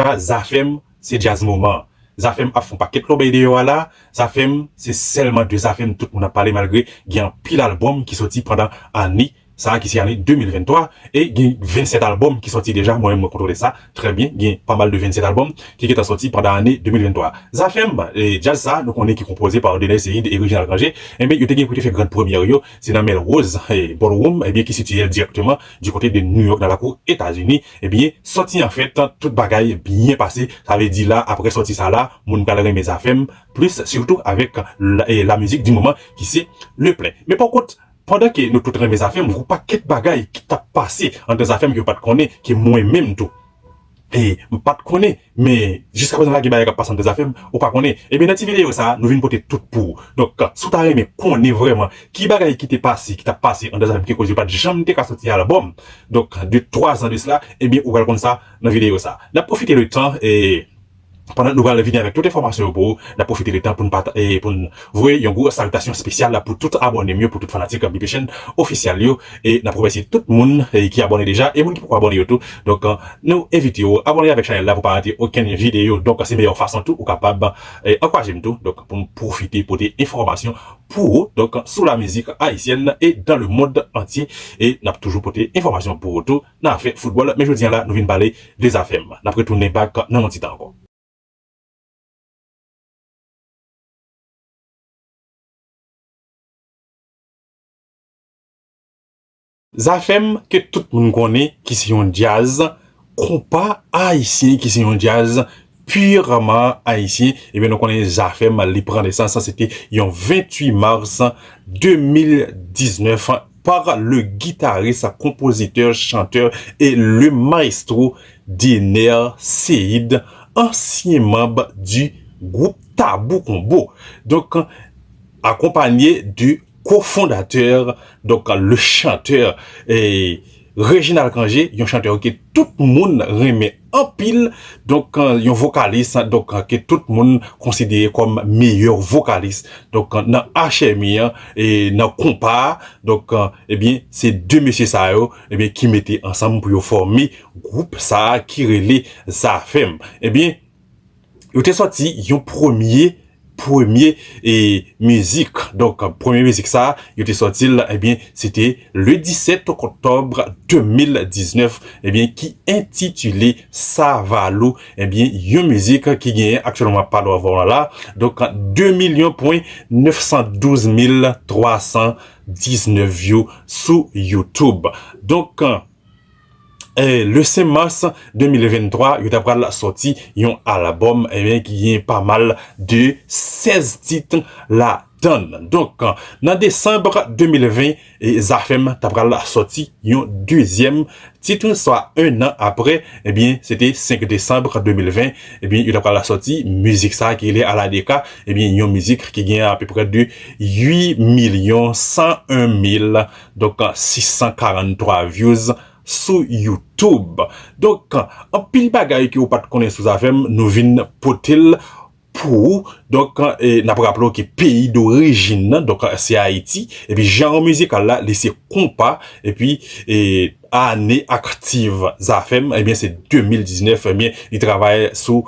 pa zafem se djaz moman zafem ap fon paket lobey deyo a la zafem se selman de zafem tout moun ap pale malgre gen anpil album ki soti pandan ane sa ki se ane 2023 e gen 27 album ki soti deja mwen menm mwen kontrole sa trè byen gen pa mal de 27 album ki gentan soti pandan ane 2023 zafem djaz sa nou konnen ki konpoze pa Dener Ceide e Reginald Rangé enben yo te gen pou te fè grand première yo se nan mèl Rose ballroom enben ki sitiyel dirèkteman Du kote de New York nan lakou Etazini, ebyen sòti an fèt tout bagay byen pase, sa vle di la aprè sòti sa la moun pral renmen zafèm plis sitou avèk la mizik di moman ki se Le Plein. Men pa kont pandan ke nou tout renmen zafèm gwo pakèt bagay ki tap pase andan zafèm ke yo pat konnen ke mwen menm tou. Hey m pat konnen men jiska prezan la gen bagay kap pase anndan zafem ou pa konnen ebyen nan ti video sa nou vin pote tout pou ou donk si w ta renmen konnen vrèman ki bagay ki te pase ki tap pase anndan zafem ki koz yo pat janm te ka soti album donk de 3 zan de sla ebyen ou pral konn sa nan video sa nap pwofite le tan e Pandan nou pral vini avèk tout enfòmasyon yo pou ou, nap pwofite de tan poun pata e poun voye yon gwo salitasyon spesyal la pou tout abòne m yo pou tout fanatik BP Chen Official yo e nap remèsye tout moun ki abòne deja e moun ki poko abòne yo tou donk nou envite ou abòne avèk chanèl la pou pa rate okenn videyo donk se meyè fason tou ou kapab ankouraje m tou donk poum pwofite pote enfòmasyon pou ou donk sou la mizik ayisyèn e dan le mond antye e nap toujou pote enfòmasyon pou ou tou. nan afè foutbòl men jodi an la nou vin pale de zafèm nap retounen bak nan yon ti tan ankò. Zafèm ke tout moun konnen ki se yon djaz konpa ayisyen ki se yon djaz purement haïtien ebyen nou konnen zafem li pran nesans se te yon 28 mars 2019 par le guitariste, compositeur, chanteur et le maestro Dener Ceïde ansyen manb du groupe Tabou Combo donk akonpanye de Co-fondateur, donk le chanteur Reginald Cangé, yon chanteur ke tout moun renmen anpil, donk yon vokalis donk ke tout moun konsidere kòm meyè vokalis donk nan HMI an, nan konpa a, donk ebyen se 2 mesye sa yo ebyen ki mete ansanm pou yo fòme gwoup sa ki rele Zafèm. Ebyen Yo te sòti yon premye premye e mizik donk premye mizik sa yo te sòti l ebyen se te le 17 oktòb 2019 ebyen ki entitile Savalou ebyen yon mizik ki genyen aktyèlman map pale w avè w an la donk 2 milyon pwen 912 mil 319 vyou sou youtube donk. le 5 mars 2023 yo ta pral sòti yon album ebyen ki gen pa mal de 16 tit la dann donk nan December 2020 e zafèm ta pral sòti yon dezyèm tit swa 1 an aprè ebyen se te 5 December 2020 ebyen yo ta pral sòti mizik sa ki rele ala de ka ebyen yon mizik ki gen apeprè de 8 milyon 101 mil Donk 643 views sou youtube. Donk anpil bagay ke ou pat konnen sou zafem nou vin potel pou ou. Donk nap raple w ke peyi dorijin nan donk se ayiti epi janr mizikal la li se konpa epi ane aktiv zafem ebyen se 2019 ebyen li travay sou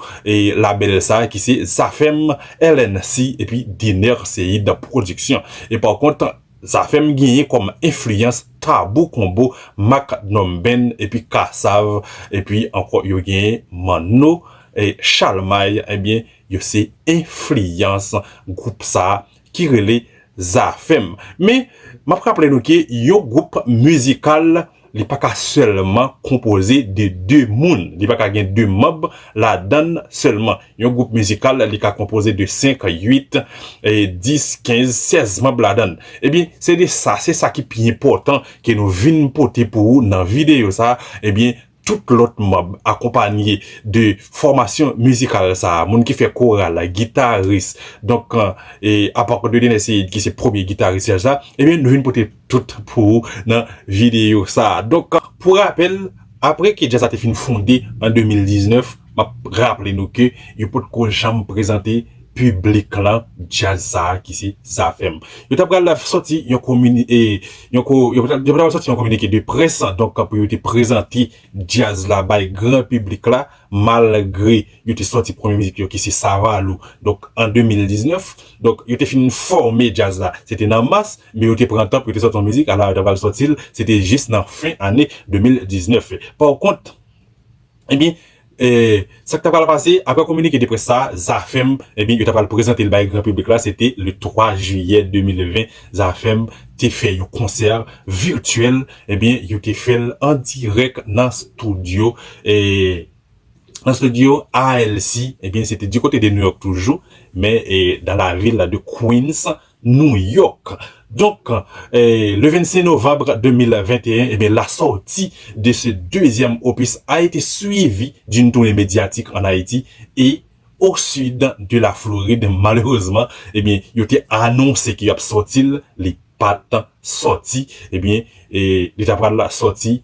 label sa ki se zafem LNC epi Dener Ceïde production e pa kont Zafèm genyen kòm enfliyans Tabou Combo, Mack Drum Band epi Kassav epi ankò yo genyen Manno e Chalmay ebyen yo se enfliyans gwoup sa ki rele Zafèm. Men, m ap raple nou ke yon gwoup mizikal Li pa ka sèlman konpoze de de moun. Li pa ka gen de manb ladan l sèlman. Yon gwoup mizikal, li ka konpoze de senk, uit, dis, kenz, sèz manb ladan l. Ebyen, se de sa, se sa ki pi enpòtan ke nou vin pote pou ou nan videyo sa a. Ebyen, tout lòt manb akonpanye de fòmasyon mizikal sa a. Moun ki fè koral, gitaris, donk, e apa Cordelineseid ki se premye gitaris jazz la. Ebyen, nou vin pote. tout pou ou nan videyo sa a. Donk, pou rapèl, apre ke Jazz la te fin fonde an 2019, m ap raple nou ke yo pot ko janm prezante piblik lan Jazz sa a ki se Zafèm. Yo ta pral sòti yon komini-e, yon ko, yo ta pral sòti yon kominike de près, donk pou yo te prezante Jazz la bay gran piblik la, Malgre yo te sòti premye mizik yo ki se Savalou donk an 2019, donk yo te fin fòme djaz la se te nan mas, men yo te pran tan pou yo te sòti yon mizik ala yo ta pral sòti l se te jis nan fen ane 2019. Pòkont, ebyen, sa k ta pral pase aprè kominike de près sa a, Zafèm, ebyen yo ta pral prezante l bay gran piblik la se te le 3 jiyè 2020 Zafèm te fè yon konsè virtuel ebyen yo te fèl an dirèk nan studio nan studio ALC ebyen se te du côté de New York toujou men dans la ville de Queens New York donk le 25 novembre 2021 ebyen la sortie de ce deuxième opus a été suivie d'une tournée médiatique en Haïti et O sud de la Florid malerezman ebyen yo te anonse ke yap sòti l li pat sòti ebyen li ta pral sòti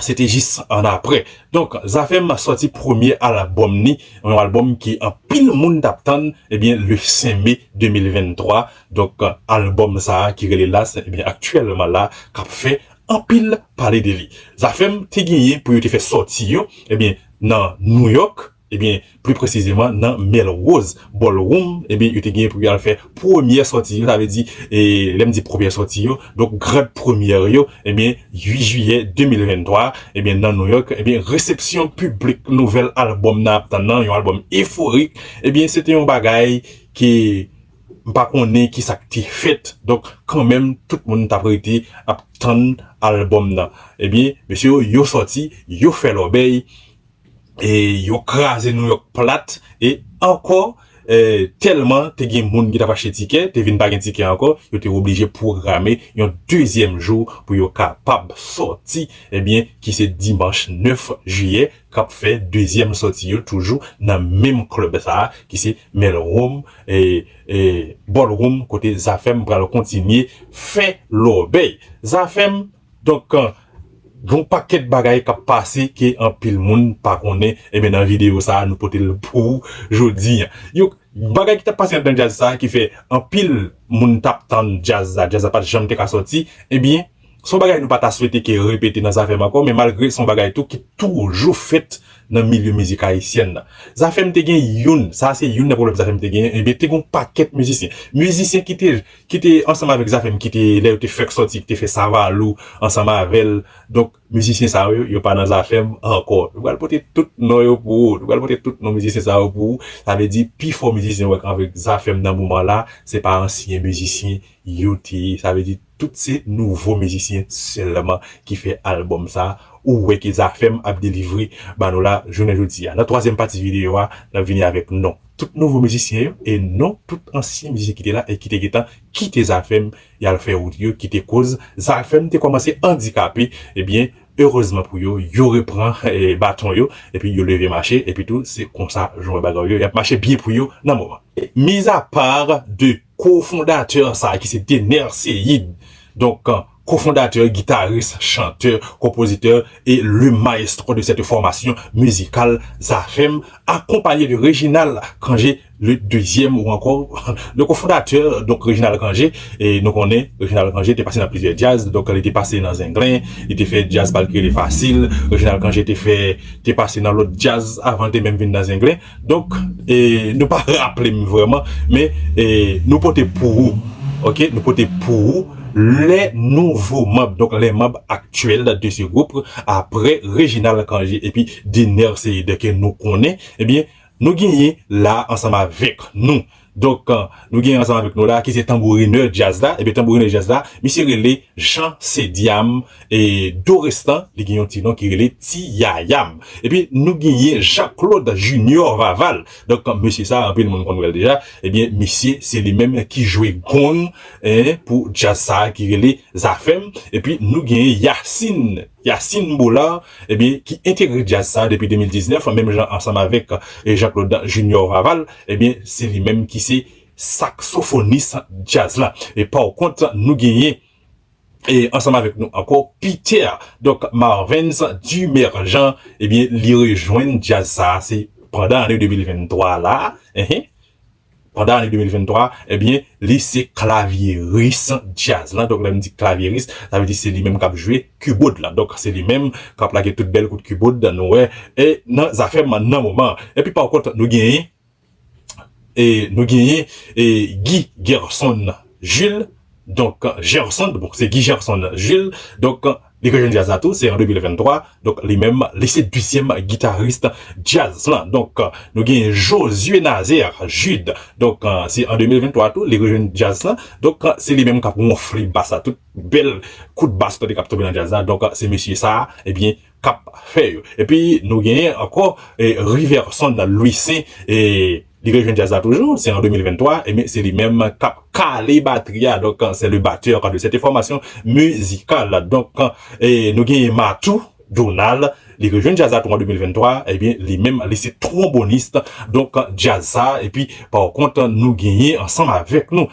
se te jis an aprè donk zafèm sòti premye albòm ni yon albòm ke anpil moun tap tann ebyen le 5 mai 2023 donk albòm sa ki rele las ebyen aktyèlman la kap fè anpil pale de li zafèm te genyen pou yo te fè sòti yo ebyen nan New York Ebyen, pli presizeman nan Melrose Ballroom, ebyen yo te genyen pou yo al fè premyè sòti yo, sa vle di, lè m di premyè sòti yo, donk grand première yo, ebyen 8 jiyè 2023, ebyen nan New York, ebyen resepsyon piblik nouvèl albòm nan ap tann nan, yon albòm eforik, ebyen se te yon bagay ke m pa konnen ki sa k te fèt, donk kanmenm tout moun t ap rete ap tann albòm nan, ebyen mesye yo yo sòti, yo fè lòbèy. e yo kraze Nouyòk plat e ankò tèlman te gen moun ki t ap achte tikè te vin pa gen tikè ankò yo te oblije pwograme yon dezyèm jou pou yo kapab sòti ebyen ki se dimanch 9 jiyè k ap fè dezyèm sòti yo toujou nan menm klèb sa a ki se Melrom Ballroom kote Zafèm pral kontinye fè lòbèy Zafèm. Donk gen yon pakèt bagay kap pase ke anpil moun pa konnen enben nan video sa nou pote l pou ou jodi an. Yon bagay ki tap pase anndan djaz sa ki fè anpil moun tap tann djaz la, djaz la pat janm te ka sòti ebyen se yon bagay nou pa ta swete ke repete nan Zafèm ankò men malgre se yon bagay tou ki toujou fèt nan milye mizik ayisyèn nan. Zafèm te gen youn, sa se youn nan pwoblèm Zafèm te genyen enben te gen yon pakèt mizisyen, mizisyen ki te. ki te ansanm avèk Zafèm ki te lè yo te fèk sòti ki te fè Savalou ansanm avè l donk mizisyen sa yo yo pa nan Zafèm ankò nou pral pote tout non yo pou ou nou pral pote tout non mizisyen sa yo pou ou sa vle di pi fò mizisyen w wè k avèk Zafèm nan moman la se pa ansyen mizisyen yo te ye sa vle di tout se nouvo mizisyen sèlman ki fè albòm sa ou wè ke Zafèm ap delivre ba nou la jounen jodi a nan twazyèm pati videyo a n ap vini avèk non. Tout nouvo mizisyen yo e non tout ansyen mizisyen ki te la e ki te gentan kite Zafèm y al fè wout yo ki te koz Zafèm te kòmanse andikape ebyen erezman pou yo yo repran baton yo epi yo leve mache epitou se konsa jan w wè bagay yo y ap mache byen pou yo nan moman. Mizapar 2 Kofondatè sa ki se Dener Ceïde, donk kofondatè, gitaris, chantè, konpozitè e le maestro de cette formation musicale Zafèm, akonpanye de Reginald Cangé le deuxième ou ankò le cofondateur, donk Reginald Cangé, nou konnen Reginald Cangé te pase nan plizyè djaz, donk li te pase nan Zenglen, li te fè djaz pa l ki rele Fasil, Reginald Cangé te fè, te pase nan lòt djaz avan l te menm vin nan Zenglen. Donk e nou pa raple m vreman men e nou pote pou ou ok nou pote pou ou lè nouvo manb donk lè manb aktyèl de se gwoup aprè Reginald Cangé epi Dener Ceide ke nou konnen ebyen nou genyen la ansanm avèk nou Donk nou gen ansanm avèk nou la ki se tanbourinè djaz la, ebyen tanbourinè djaz la misye rele Jean Cediam e dorestan li gen yon ti non ki rele Ti Yayam. Epi nou genyen Jean Claude Junior Vaval, donk mesye sa anpil moun konn wè l deja, ebyen misye se li menm ki jwe gong pou djaz sa ki rele Zafèm epi nou genyen Yacine. Yacine Boulard ebyen ki entegre djaz sa depi 2019 menm jan ansanm avèk Jean Claude Junior Vaval ebyen se li menm ki se saksofonis djaz la e por kont nou genyen e ansanm avèk nou ankò Peter donk Marvens Dumerjan ebyen li rejwenn djaz sa se pandan ane 2023 la ehe. pandan ane 2023 ebyen li se klavyeris djaz lan, donk lèm di klavyeris sa vle di se li menm kap jwe kibod la, donk se li menm kap lage tout bèl kout kibod nou wè e nan zafèm nan moman epi pa kont nou genyen e nou genyen e Guy Gerson Jules donk Gerson bon se Guy Gerson Jules donk. Li gen jazz la tou, se an 2023, donk li menm li se dezyèm gitaris jazz lan. Donk nou gen Josué Nazaire Jude, donk se an 2023 tou li rejwenn jazz lan, donk se li menm k ap wonfle bass la, tout bèl kout bass kote k ap tonbe nan jazz la, donk se mesye sa a ebyen k ap fè yo. Epi nou genyen ankò Riverson Louissaint. Li vle jwenn djaz la toujou, se an 2023, ebyen se li menm kap kale batri a, donk c'est le batteur de cette formation musicale, donk nou genyen Matou Donald, li vle jwenn djaz la tou an 2023, ebyen li menm li se tromboniste donk djaz sa, epi pa kont nou genyen ansanm avèk nou.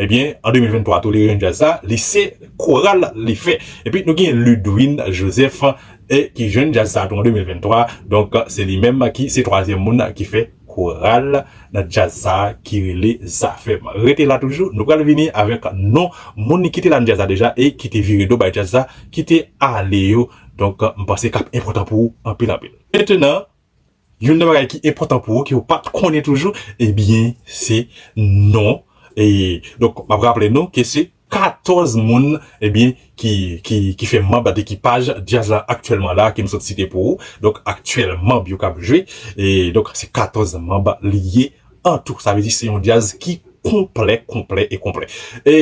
Ebyen an 2023 tolere yon djaz sa li se koral li fè epi nou gen Ludwin Joseph e ki jwenn djaz sa tou an 2023 donk se li menm ki se twazyèm moun ki fè koral nan djaz sa ki rele Zafèm rete la toujou nou pral vini avèk non moun ki te la nan djaz la deja e ki te vire do bay djaz la ki te ale yo donk m panse kap enpòtan pou ou anpil anpil. Mentenan. Youn nan bagay ki enpòtan pou ou ke ou pat konnen toujou ebyen se non e donk map raple nou ke se 14 moun ebyen ki ki ki fè manb ak ekipaj djaz la aktyèlman la ke m sot site pou ou donk aktyèl manb yo kap jwe e donk se 14 manb li ye. An tou, sa vle di se yon djaz ki konplè, konplè e konplè. E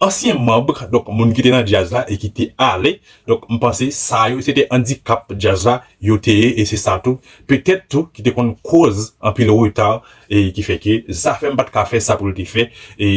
ansyen manb, donk moun ki te nan djaz la e ki te ale, donk m panse sa yo se te andikap djaz la yo te ye e se sa tou, petèt tou ki te konn koz anpil reta e ki fè ke Zafèm pa t ka fè sa pou l te fè e.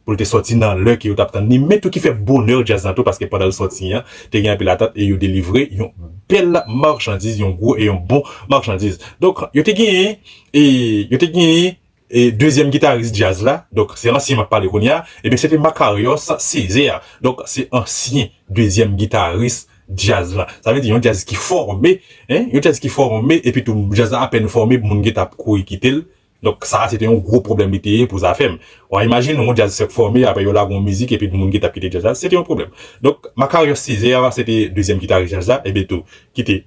pou l te sòti nan lè ke yo t ap tann li, men tou ki fè bonè djaz la tou paske pandan l sòti an, te gen anpil atant e yo delivre yon bèl marchandiz, yon gwo e yon bon marchandiz. Donk, yo te genyen e yo te genyen e dezyèm gitaris djaz la, donk se ansyen m ap pale kounye a, ebyen se te Makarios Césaire. Donk, se ansyen dezyèm gitaris djaz la. Sa vle di yon djaz ki fòme, yon djaz ki fòme epitou djaz la apèn fòme moun gen t ap kouri kite l, Donk sa a se te yon gwo pwoblèm li te ye pou zafè m. Wa imajine yon djaz fèk fòme, apre yo lage yon mizik epi moun ki t ap kite djaz la, se te yon pwoblèm. Donk Makarios Césaire se te dezyèm gitaris djaz la, e Beto ki te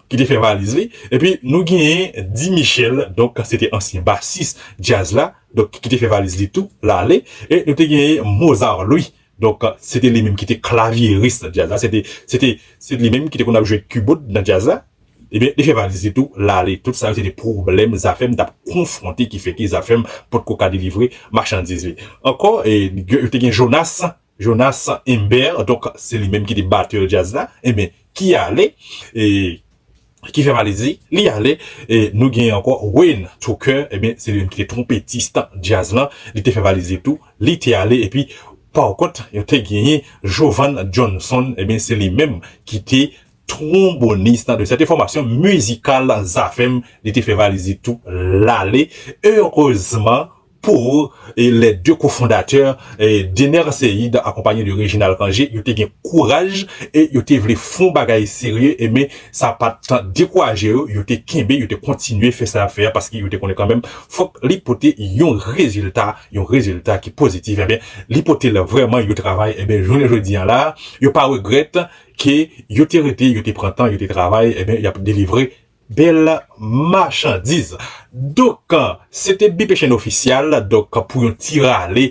ki te fè valiz li. Epi nou genyen Di Michel, donk se te ansyen basis djaz la, donk ki te fè valiz li tou, l ale. E nou te genyen Mozart Louis, donk se te li menm ki te klavyeris nan djaz la, se te se te se li menm ki te konn ap jwe kibod nan djaz la. Ebyen li fè valiz li tou lale. Tout sa yo se te pwoblèm Zafèm t ap konfwonte ki fè ke Zafèm potko ka delivre machandiz li. Ankò yo te gen Jonas, Jonas Imbert donk se li menm ki te batè djaz la ebyen ki ale e ki fè valiz li, li ale. E nou gen ankò Wayne Tucker ebyen se li menm ki te twonpetis djaz lan, li te fè valiz li tou li te ale epi pakont yo te genyen Jovan Johnson ebyen se li menm ki te. twonbonis nan de sète fòmasyon mizikal Zafèm, li te fè valiz li tou lale, erezman pou lè de kofondatè, Dener Ceide akonpanye de Reginald Cangé, yo te gen kouraj e yo te vle fon bagay serye, men sa pa t dekouraje yo, yo te kenbe, yo te kontinye fè sa y ap fè a paske yo te konnen kanmenm fòk li pote yon rezilta, yon rezilta ki pozitif, enben li pote l vrèman, yo travay, enben jounen jodi an la a, yo pa regrèt. Ke yo te rete, yo te pran tan, yo te travay, enben y ap delivre bèl machandiz. Donk, se te Bipe Chen Ofisyal, donk pou yon ti rale,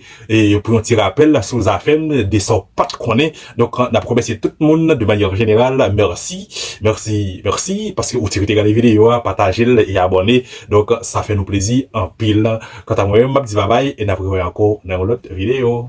pou yon ti rapèl sou zafè m, de sa w pa t konnen. Donk, n ap remèsye tout moun de manyè jeneral, mèsi, mèsi, mèsi paske ou ti rete gade videyo a, pataje l e abòne. Donk, sa fè nou plezi anpil. Kanta mwen menm, m ap di babay e n ap revoye ankò nan yon lòt videyo.